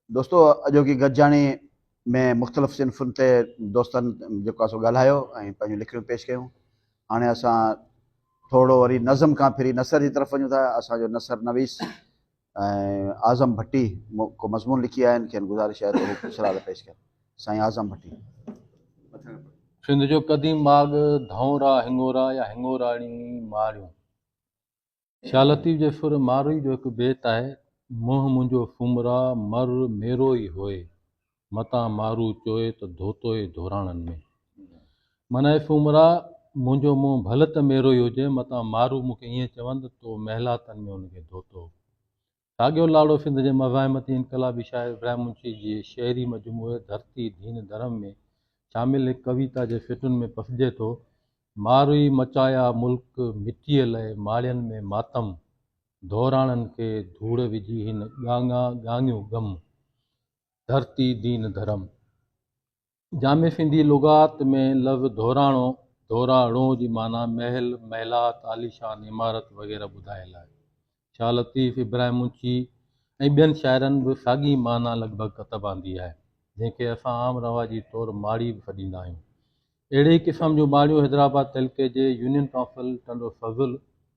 دوستو اڄوڪي گڏجاڻي ۾ مختلف صنفن تي دوستن جيڪو آهي سو ڳالهايو ۽ پنهنجون لکڻيون پيش ڪيون هاڻي اسان ٿورڙو وري نظم کان ڦري نثر جي طرف وڃون ٿا اسان جو نثر نويس ۽ اعظم ڀٽي ڪو مضمون لکي آيا آهن کين گذارش آهي ته هو سرال پيش ڪن سائين اعظم ڀٽي سنڌ جو قديم ماڳ ڌئون را هڱورا يا هڱوراڻي ماڙيون شاهه لطيف جي سر ماروئي جو هڪ بيت آهي، منهن منهنجو ڦومرا مر ميرو ئي هوء، متان مارو چوئي ته ڌوتو ئي ڌوراڻن ۾. معنيٰ اي ڦومرا! منهنجو منهن ڀل ته ميرو ئي هجي، متان مارو مون کي ائين چون ته تو محلاتن ۾ ان کي ڌوتو. ساڳيو لاڙو سنڌ جي مزاحمتي انقلابي شاعر ابراهيم منشي جي شعري مجموعي ڌرتي ڌين ڌرم ۾ شامل هڪ ڪويتا جي سٽن ۾ پسجي ٿو، ماروئي مچايا ملڪ مٽيء لئه ماڙين ۾ ماتم، ڌوراڻن کي ڌوڙ وجهي هن ڳاڱا ڳاڱيون ڳم. ڌرتي ڌين ڌرم. جامع سنڌي لغات ۾ لفظ ڌوراڻو، ڌورا ڙو، جي معنيٰ محل، محلات، عاليشان عمارت وغيره ٻڌايل آهي. شاهه لطيف، ابراهيم اونچي ۽ ٻين شاعرن به ساڳي معنيٰ لڳ ڀڳ ڪتب آندي آهي، جنهن کي اسان عام رواجي طور ماڙي به سڏيندا آهيون. اهڙي ئي قسم جون ماڙيون حيدرآباد تعلقي جي يونين ڪائونسل ٽنڊو فضل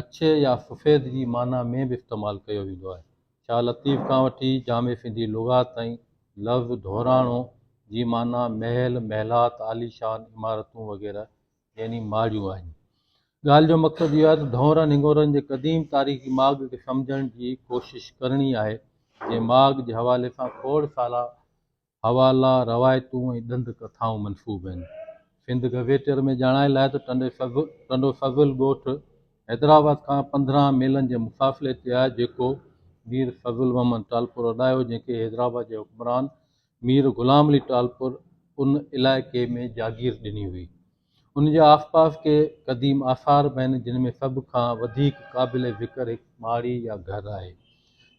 اڇي يا سفيد جي معنيٰ ۾ به استعمال ڪيو ويندو آهي. شاهه لطيف کان وٺي جامع سنڌي لغات تائين لفظ ڌوراڻو جي معنيٰ محل، محلات، عاليشان عمارتون وغيره يعني ماڙيون آهن. ڳالهه جو مقصد اهو آهي ته ڌونئرن هڱورن جي قديم تاريخي ماڳ کي سمجهڻ جي ڪوشش ڪرڻي آهي، جنهن ماڳ جي حوالي سان کوڙ سالا حوالا، روايتون ۽ ڏند ڪٿائون منسوب آهن. سنڌ گزيٽيئر ۾ ڄاڻايل آهي ته ٽنڊو سزل ڳوٺ حيدرآباد کان پندرهن ميلن جي مفاصلي تي آهي، جيڪو مير فضل محمد ٽالپر اڏايو، جنهن کي حيدرآباد جي حڪمران مير غلام علي ٽالپر ان علائقي ۾ جاگير ڏني هئي. ان جي آسپاس ڪي قديم آثار به آهن جن ۾ سڀ کان وڌيڪ قابل ذڪر هڪ ماڙي يا گهر آهي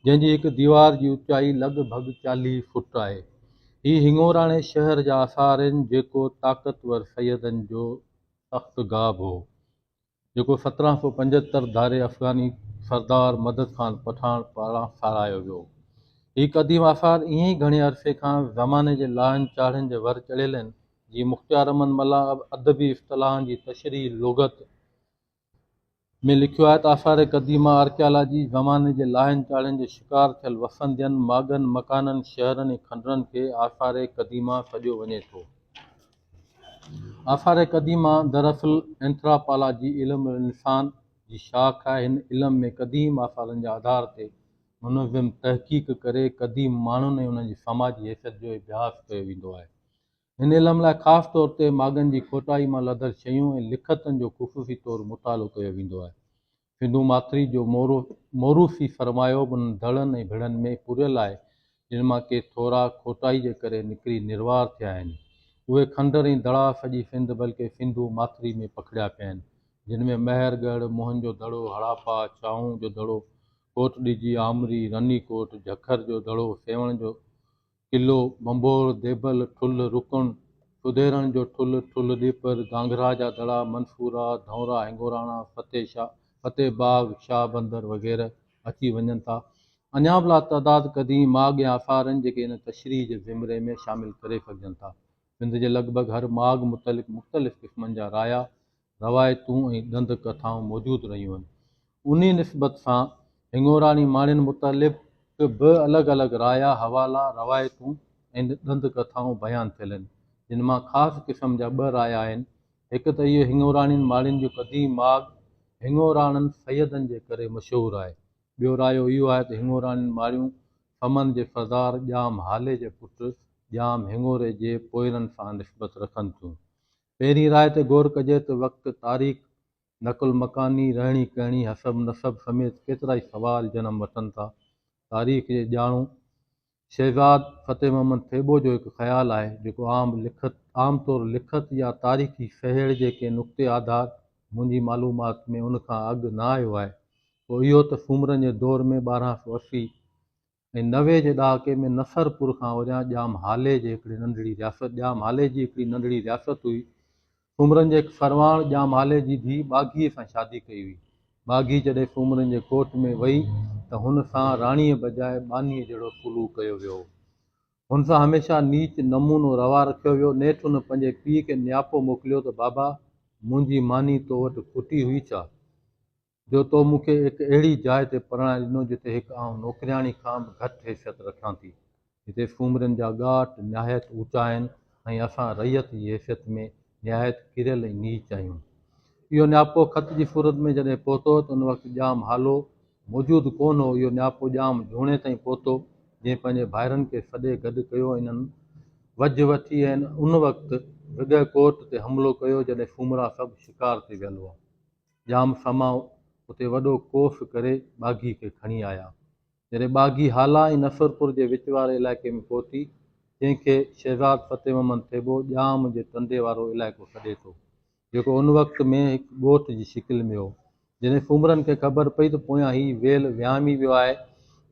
جنهن جي هڪ ديوار جي اوچائي لڳ ڀڳ چاليهه فوٽ آهي هي هڱوراڻي شهر جا آثار آهن جيڪو طاقتور سيدن جو تخت گاهه به هو جيڪو سترهن سؤ پنجهتر ڌاري افغاني سردار مدد خان پٺاڻ پاران ساراهيو ويو. هي قديم آثار ائين ئي گهڻي عرصي کان زماني جي لاهن چاڙهن جي ور چڙهيل آهن، جيئن مختيار احمد ملاح ادبي اصطلاحن جي تشريح لغت ۾ لکيو آهي ته آثار قديمه آرڪيالاجي زماني جي لاهن چاڙهن جي شڪار ٿيل وسندين، ماڳن، مڪانن، شهرن ۽ کنڊرن کي آثار قديمه سڏيو وڃي ٿو. آثار قديمه دراصل اينٿراپالاجي علم الانسان جي شاخ آهي. هن علم ۾ قديم آثارن جي آڌار تي منظم تحقيق ڪري قديم ماڻهن ۽ انهن جي سماجي حيثيت جو اڀياس ڪيو ويندو آهي. هن علم لاء خاص طور تي ماڳن جي کوٽائي مان لڌل شيون ۽ لکتن جو خصوصي طور مطالعو ڪيو ويندو آهي. سنڌو ماٿري جو مورو موروثي سرمايو به انهن دڙن ۽ ڀڙن ۾ پوريل آهي، جن مان ڪي ٿورا کوٽائي جي ڪري نڪري نروار ٿيا آهن. اهي کنڊر ۽ دڙا سڄي سنڌ بلڪه سنڌو ماٿري ۾ پکڙيا پيا آهن، جن ۾ مهر ڳڙهه، موهن جو دڙو، هڙاپا، ڇانو جو دڙو، ڪوٽ ڏجي، آمري، رني ڪوٽ، جهکر جو دڙو، سيوهڻ جو قلعو، ڀنڀور، ديبل، ٺلهه، رڪڻ، ڦديرڻ جو ٺلهه، ٺلهه ڏيپر، گانگرا جا دڙا، منصوره، ڌئونرا، هنگوراڻا، فتح شاهه، فتح باغ، شاهه بندر وغيره اچي وڃن ٿا. اڃا به لاتعداد قديم ماڳ ۽ آثار آهن جيڪي ان تشريح جي زمري ۾ شامل ڪري سگهجن ٿا. سنڌ جي لڳ ڀڳ هر ماڳ متعلق مختلف قسمن جا رايا روايتون ۽ ڏند ڪٿائون موجود رهيون آهن. انهي نسبت سان هڱوراڻي ماڻين متعلق به الڳ الڳ رايا، حوالا، روايتون ۽ ڏند ڪٿائون بيان ٿيل آهن، جن مان خاص قسم جا ٻه رايا آهن، هڪ ته اهي هڱوراڻين ماڻين جو قديم ماڳ هڱوراڻن سيدن جي ڪري مشهور آهي، ٻيو رايو اهو آهي ته هڱوراڻين ماڻيون سمن جي سردار ڄام هالي جي پٽ ڄام هڱوري جي پوئرن سان نسبت رکن ٿيون، پهرين راء تي غور ڪجي ته وقت، تاريخ، نقل مڪاني، رهڻي ڪهڻي، حسب نسب سميت ڪيترائي سوال جنم وٺن ٿا. تاريخ جي ڄاڻو شهزاد فتح محمد ٿيٻو جو هڪ خيال آهي، جيڪو عام لکت عام طور لکت يا تاريخي سهيڙ جي ڪنهن نقطي آڌار منهنجي معلومات ۾ ان کان اڳ نه آيو آهي، اهو اهو ته سومرن جي دور ۾ ٻارهن سؤ اسي ۽ نوي جي ڏهاڪي ۾ نصر پور کان اوريان ڄام هالي جي هڪڙي ننڍڙي رياست ڄام هالي جي هڪڙي ننڍڙي رياست هئي. سومرن جي هڪ سرواڻ ڄام هالي جي ڌيء ٻاگهيء سان شادي ڪئي هئي. ٻاگهي جڏهن سومرن جي ڪوٽ ۾ وئي ته هن سان راڻيء بجاء ٻانهيء جهڙو سلوڪ ڪيو ويو هو. هن سان هميشه نيچ نمونو روا رکيو ويو. نيٺ هن پنهنجي پيء کي نياپو موڪليو ته بابا! منهنجي ماني تو وٽ کوٽي هئي ڇا؟ جو تو مون کي هڪ اهڙي جاء تي پرڻائي ڏنو جتي هڪ آئون نوڪرياڻي کان به گهٽ حيثيت رکان ٿي، جتي سومرين جا ڳاٽ نهايت اوچا آهن ۽ اسان رعيت جي حيثيت ۾ نهايت ڪريل ۽ نيچ آهيون. اهو نياپو خط جي صورت ۾ جڏهن پهتو ته ان وقت ڄام هالو موجود ڪونه هو، اهو نياپو ڄام جهوني تائين پهتو جنهن پنهنجي ڀائرن کي سڏي گڏ ڪيو ۽ انهن وجهه وٺي ۽ ان وقت وڳهه ڪوٽ تي حملو ڪيو جڏهن سومرا سڀ شڪار تي ويل هئا. ڄام سماء اتي وڏو ڪوس ڪري ٻاگهي کي کڻي آيا. جڏهن ٻاگهي هالا ۽ نصرپور جي وچ واري علائقي ۾ پهتي، جنهن کي شهزاد فتح محمد ٿيٻو ڄام جي ٽنڊي وارو علائقو سڏي ٿو، جيڪو ان وقت ۾ هڪ ڳوٺ جي شڪل ۾ هو، جڏهن سومرن کي خبر پئي ته پويان هي ويل وهامي ويو آهي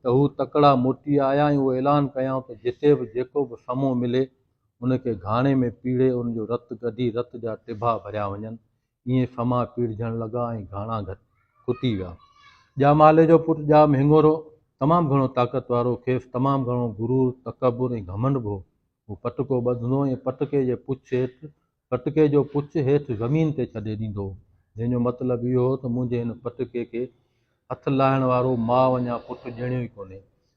ته هو تڪڙا موٽي آيا ۽ اهو اعلان ڪيائون ته جتي به جيڪو به سمو ملي، ان کي گهاڻي ۾ پيڙهي ان جو رت ڪڍي رت جا ٽڀا ڀريا وڃن، ائين ڦما پيڙجڻ لڳا ۽ گهاڻا گهٽ ڪتي ويا. ڄامالي جو پٽ ڄام هڱورو تمام گهڻو طاقت وارو، کيس تمام گهڻو غرور، تڪبر ۽ گهمنڊ به هو. هو پٽڪو ٻڌندو ۽ پٽڪي جي پڇ هيٺ پٽڪي جو پڇ هيٺ زمين تي ڇڏي ڏيندو هو، جنهن جو مطلب اهو هو ته منهنجي هن پٽڪي کي هٿ لاهڻ وارو ماء وڃان پٽ ڄڻيو ئي ڪونهي.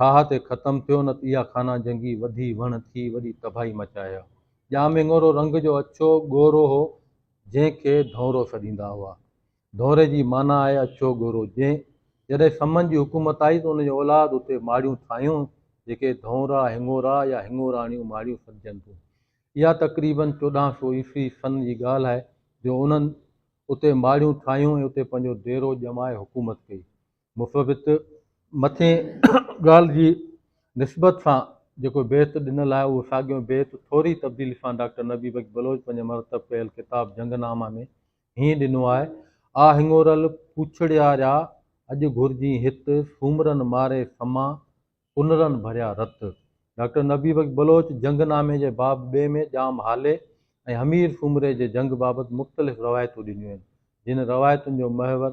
ٺاهه تي ختم ٿيو نه ته اها خانه جنگي وڌي وڻ ٿي وڏي تباهي مچائي ها. ڄامڱورو رنگ جو اڇو ڳورو هو جنهن کي ڌونرو سڏيندا هئا. ڌونري جي معنيٰ آهي اڇو ڳورو جنهن جڏهن سمن جي حڪومت آئي ته ان جي اولاد اتي ماڙيون ٺاهيون جيڪي ڌونرا هڱورا يا هڱوراڻيون ماڙيون سڏجن ٿيون. اها تقريباً چوڏهن سو عيسوي سن جي ڳالهه آهي جو انهن اتي ماڙيون ٺاهيون ۽ اتي پنهنجو ديرو ڄمائي حڪومت ڪئي. مفوض مٿين ڳالهه جي نسبت سان جيڪو بيت ڏنل آهي، اهو ساڳيو بيت ٿوري تبديلي سان ڊاڪٽر نبي بخش بلوچ پنهنجي مرتب ڪيل ڪتاب جنگ نامه ۾ هيئن ڏنو آهي، آ هڱورل پوڇڙياريا! اڄ گهرجين هت، سومرن ماري سما، پنرن ڀريا رت. ڊاڪٽر نبي بخش بلوچ جنگ نامي جي باب ٻئي ۾ ڄام هالي ۽ حمير سومري جي جنگ بابت مختلف روايتون ڏنيون آهن، جن روايتن جو محور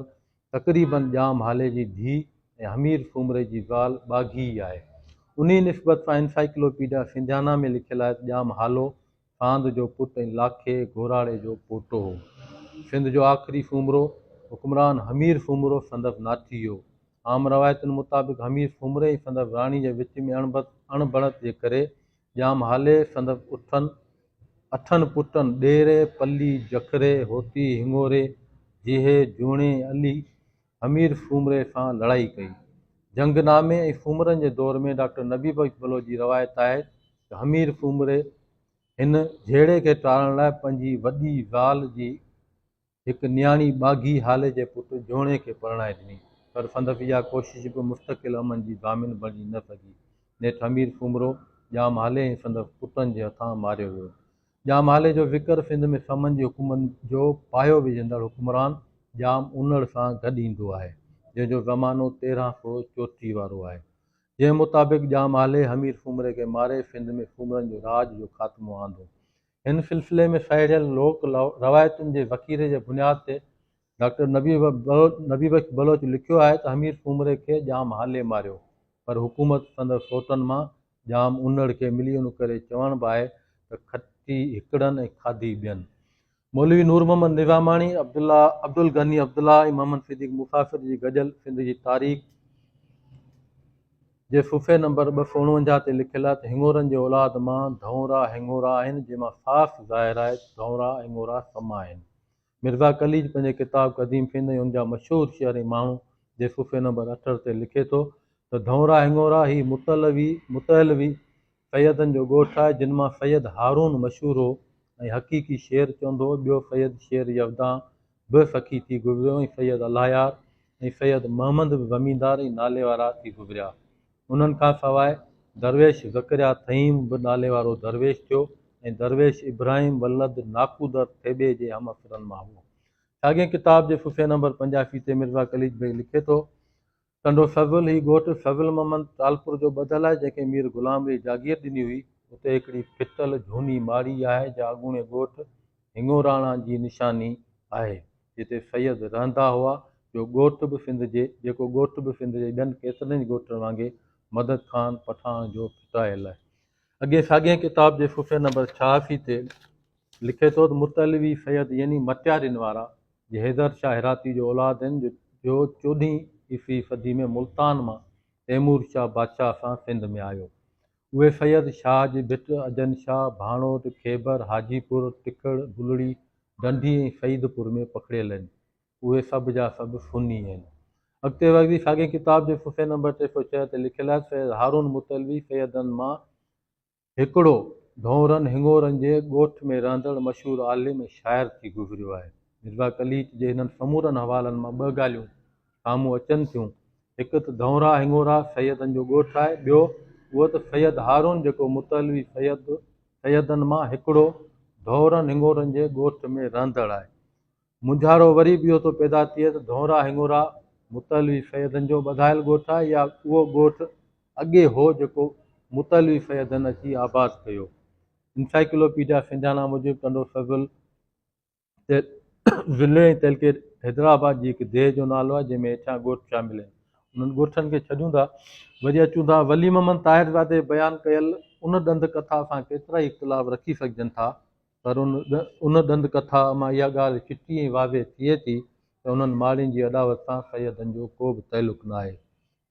تقريباً ڄام هالي جي ڌيء ۽ حمير سومري جي زال ٻاگهي ئي آهي. انهيء نسبت سان انسائيڪلوپيڊيا سنڌيانا ۾ لکيل آهي ته ڄام هالو ساند جو پٽ ۽ لاکي گهراڙي جو پوٽو هو. سنڌ جو آخري سومرو حڪمران حمير سومرو سندس ناٺي هو. عام روايتن مطابق حمير سومري ۽ سندس راڻي جي وچ ۾ اڻبت اڻ بڻت جي ڪري ڄام هالي سندس اٺن اٺن پٽن ڏيري، پلي، جکري، هوتي، هڱوري، جيهي، جوڻي، علي، امير سومري سان لڙائي ڪئي. جنگ نامي ۽ سومرن جي دور ۾ ڊاڪٽر نبي بخش بلوچ جي روايت آهي ته امير سومري هن جهيڙي کي ٽارڻ لاء پنهنجي وڏي زال جي هڪ نياڻي ٻاگهي هالي جي پٽ جهوني کي پرڻائي ڏني پر سندس اها ڪوشش به مستقل امن جي ضامن بڻجي نه سگهي نيٺ امير سومرو ڄام هالي ۽ سندس پٽن جي هٿان ماريو ويو. ڄام هالي جو ذڪر سنڌ ۾ سمن جي حڪومت جو پايو وجهندڙ حڪمران ڄام انڙ سان گڏ ايندو آهي، جنهن جو زمانو تيرهن سؤ چوٽيهه وارو آهي، جنهن مطابق ڄام هالي همير سومري کي ماري سنڌ ۾ سومرن جو راڄ جو خاتمو آندو. هن سلسلي ۾ سهيڙيل لوڪ روايتن جي ذخيري جي بنياد تي ڊاڪٽر نبي بخش بلوچ لکيو آهي ته حمير سومري کي ڄام هالي ماريو پر حڪومت سندس سوٽن مان ڄام انڙ کي ملي ان ڪري چوڻ به آهي ته کٽي هڪڙن ۽ کاڌي ٻين. مولوي نور محمد نظاماڻي، عبدالغني عبدالله ۽ محمد صديق مسافر جي گڏيل سنڌ جي تاريخ جي صفحي نمبر ٻه سؤ اڻونجاهه تي لکيل آهي ته هڱورن جي اولاد مان ڌئونرا هڱورا آهن جنهن مان صاف ظاهر آهي ته ڌئونرا هڱورا سم آهن. مرزا قليچ پنهنجي ڪتاب قديم سنڌ ۽ ان جا مشهور شعر ۽ ماڻهو جي صفحي نمبر اٺهٺ تي لکي ٿو ته ڌئونرا هڱورا هي متعلوي، Mutalwi، سيدن جو ڳوٺ آهي، جن مان سيد هارون مشهور هو ۽ حقيقي شعر چوندو هو، ٻيو سيد شير يودان به سخي ٿي گذريو ۽ سيد الاهيار ۽ سيد محمد به زميندار ۽ ناليوارا ٿي گذريا. انهن کان سواء درويش زڪريا ٿهيم به نالي وارو درويش ٿيو ۽ درويش ابراهيم ولد ناڪودر ٿيٻي جي همعصرن مان هئو. ساڳئي ڪتاب جي صفحي نمبر پنجاسي تي مرزا قليچ بيگ لکي ٿو، ٽنڊو سزول، هي ڳوٺ سزول محمد ٽالپور جو ٻڌل آهي، جنهن کي مير غلام علي جاگير ڏني هئي. اتي هڪڙي ڦٽل جهوني ماڙي آهي، جا اڳوڻي ڳوٺ هڱوراڻا جي نشاني آهي. جتي سيد رهندا هئا، جو ڳوٺ به سنڌ جي جيڪو ڳوٺ به سنڌ جي ٻين ڪيترن ئي ڳوٺن وانگي مدد خان پٺاڻ جو ڦٽايل آهي. اڳئين ساڳئين ڪتاب جي صفحي نمبر ڇهاسي تي لکي ٿو ته متعلوي سيد يعني مٽيارين وارا جي حيدر شاهه هراتي جو اولاد آهن جو چوڏهين عيسوي صدي ۾ ملتان مان تيمور شاهه بادشاهه سان سنڌ ۾ آيو اهي سيد شاهه جي ڀٽ، اجن شاهه، ڀاڻوٽ، خيبر، حاجي پور، ٽکڙ، بلڙي، ڍنڍي ۽ سعيد پور ۾ پکڙيل هن. اهي سڀ جا سڀ سني هن. اڳتي وڌي ساڳئي ڪتاب جي صفحي نمبر ٽي سؤ ڇهه تي لکيل آهي، سيد هارون متعلوي سيدن مان هڪڙو، ڍونرن، هڱورن جي ڳوٺ ۾ رهندڙ مشهور عالم ۽ شاعر ٿي گذريو آهي. مرزا قليچ جي هنن سمورن حوالن مان ٻه ڳالهيون سامهون اچن ٿيون. هڪ ته ڌئونرا هڱورا سيدن جو ڳوٺ آهي، ٻيو اهو ته سيد هارون جيڪو متعلوي سيد سيدن مان هڪڙو ڌئورن هڱورن جي ڳوٺ ۾ رهندڙ آهي. مونجهارو وري به اهو ٿو پيدا ٿئي ته ڌئونرا هڱورا متعلوي سيدن جو ٻڌايل ڳوٺ آهي يا اهو ڳوٺ اڳي هو جيڪو متعلوي سيدن اچي آباد ڪيو. انسائيڪلوپيڊيا سنڌيانا موجب ٽنڊو سزل، ضلعي ۽ تعلقي حيدرآباد جي هڪ ديهه جو نالو آهي جنهن ۾ هيٺيان ڳوٺ شامل آهن انهن ڳوٺن کي ڇڏيون ٿا وري اچون ٿا ولي محمد طاهرزادي بيان ڪيل ان ڏند ڪٿا سان ڪيترائي اختلاف رکي سگهجن ٿا پر ان ان ڏند ڪٿا مان اها ڳالهه چٽي ۽ واضح ٿئي ٿي ته انهن ماڙين جي اڏاوت سان سيدن جو ڪو به تعلق ناهي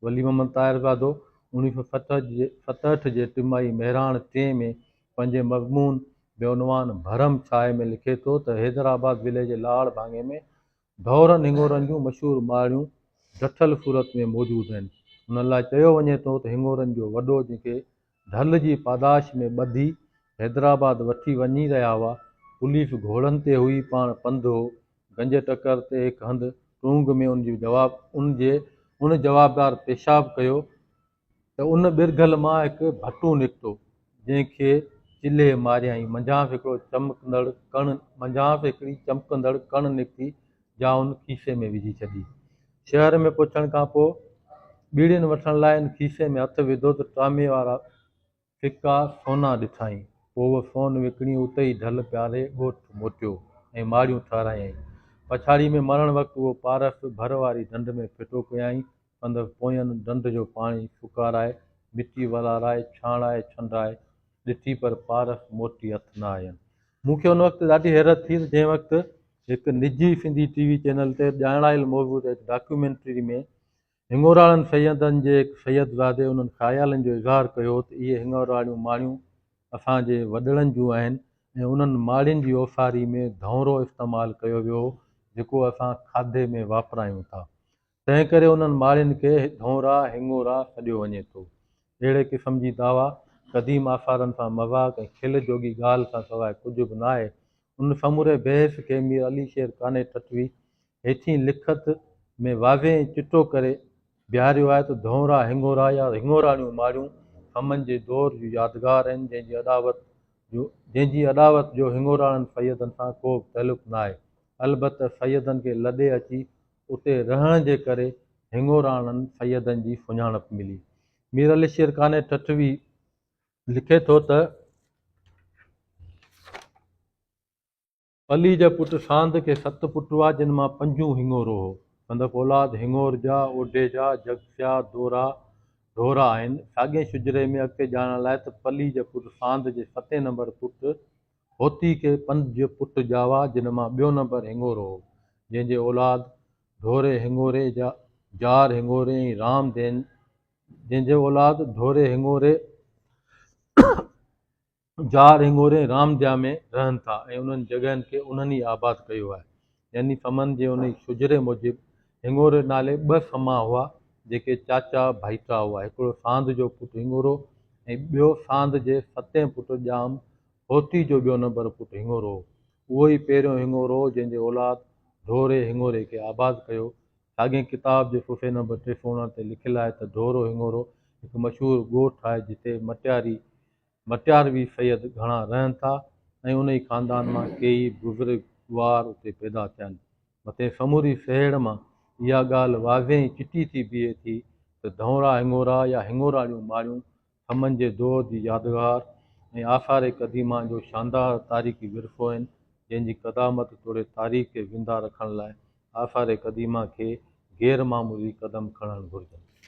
ولي محمد طاهرزادو اوڻيهه سؤ ستهٺ جي ٽمائي مهراڻ ٽين ۾ پنهنجي مضمون بعنوان ڀرم ڇاهه ۾ لکي ٿو ته حيدرآباد ضلعي جي لاڙ ڀاڱي ۾ ڍورن هڱورن جون مشهور ماڙيون ڊٺل صورت ۾ موجود آهن ان لاء چيو وڃي ٿو ته هڱورن جو وڏو جنهن کي ڍل جي پاداش ۾ ٻڌي حيدرآباد وٺي وڃي رهيا هئا. پوليس گهوڙن تي هئي، پاڻ پنڌ هو. گنج ٽڪر تي هڪ هنڌ ٽونگ ۾ ان جي جواب ان جي ان جوابدار پيشاب ڪيو ته ان ٻرگهل مان هڪ ڀٽو نڪتو، جنهن کي چلهي ماريائين. منجهانس هڪڙو چمڪندڙ ڪڻ منجهانس هڪڙي چمڪندڙ ڪڻ نڪتي، جائون کيسي ۾ وجهي ڇڏي. شهر ۾ پهچڻ کان پوء ٻيڙين وٺڻ لاء ان کيسي ۾ هٿ وڌو ته ٽامي وارا ڦڪا سونا ڏٺائين. پوء اهو سون وڪڻي اتي ئي ڍل پياري ڳوٺ موٽيو ۽ ماڙيون ٺهرايائين. پڇاڙيء ۾ مرڻ وقت اهو پارس ڀر واري ڍنڍ ۾ ڦٽو ڪيائين ڪندڙ پوئين ڍنڍ جو پاڻي ڦڪارائي، مٽي ولارائي، ڇاڻائي، ڇنڊائي ڏٺي پر پارک موٽي هٿ نه آيم. مون کي ان وقت ڏاڍي حيرت ٿي ته جنهن وقت هڪ نجي سنڌي ٽي وي چينل تي ڄاڻايل موضوع تي هڪ ڊاڪيومينٽري ۾ هڱوراڻن سيدن جي هڪ سيدزادي انهن خيالن جو اظهار ڪيو هو ته اهي هڱوراڻيون ماڙيون اسان جي وڏڙن جون آهن ۽ انهن ماڙين جي اوساري ۾ ڌؤنرو استعمال ڪيو ويو هو جيڪو اسان کاڌي ۾ واپرايون ٿا تنهن ڪري انهن ماڙين کي ڍونرا، هڱورا، سڏيو وڃي ٿو. اهڙي قسم جي دعويٰ قديم آثارن سان مذاق ۽ کل جوڳي ڳالهه کان سواء ڪجهه به ناهي. ان سموري بحث کي مير علي شير قانع ٺٽوي هيٺين لکت ۾ واضح ۽ چٽو ڪري بيهاريو آهي ته ڍونرا، هڱورا يا هڱوراڻيون ماڙيون سمن جي دور جون يادگار آهن، جنهن جي اڏاوت جو جنهن جي اڏاوت جو هڱوراڻن سيدن سان ڪوبه تعلق ناهي. البته سيدن کي لڏي اچي اتي رهڻ جي ڪري هڱوراڻن سيدن جي سڃاڻپ ملي. مير علي شير قانع ٺٽوي لکي ٿو ته، علي جا پٽ ساند کي ست پٽ هئا جن مان پنجون هڱورو هو. سندس اولاد هڱورجا، اوڍيجا، جگسيا، دورا، ڍورا آهن. ساڳئي شجري ۾ اڳتي ڄاڻڻ لاء ته پلي جا پٽ ساند جي ستين نمبر پٽ هوتي کي پنج پٽ ڄاوا، جن مان ٻيو نمبر هڱورو هو، جنهن جي اولاد ڍوري هڱوري، جار هڱوري ۽ رام دين جنهن جي اولاد ڍوري هڱوري، جار هڱوري ۽ رام ديا ۾ رهن ٿا ۽ انهن جڳهن کي انهن ئي آباد ڪيو آهي. يعني سمن جي انهي شجري موجب هڱوري نالي ٻه سما هئا، جيڪي چاچا ڀائيٽا هئا، هڪڙو ساند جو پٽ هڱورو ۽ ٻيو ساند جي ستين پٽ ڄام هوتي جو ٻيو نمبر پٽ هڱورو هو. اهو ئي پهريون هڱورو هو، جنهن جي اولاد ڍوري هڱوري کي آباد ڪيو. ساڳئي ڪتاب جي صفحي نمبر ٽي سؤ اڻ تي لکيل آهي ته ڍورو هڱورو هڪ مشهور ڳوٺ آهي، جتي مٽياري، مٽياروي سيد گهڻا رهن ٿا ۽ انهي خاندان مان ڪيئي بزرگ وار اتي پيدا ٿيا آهن. مٿين سموري سهيڙ مان اها ڳالهه واضح ۽ چٽي ٿي بيهي ٿي ته ڌئونرا هڱورا يا هڱوراڙيون ماڙيون سمن جي دور جي يادگار ۽ آثار قديمه جو شاندار تاريخي ورثو آهن جنهن جي قدامت توڙي تاريخ کي زنده رکڻ لاء آثار قديمه کي غير معمولي قدم کڻڻ گهرجن.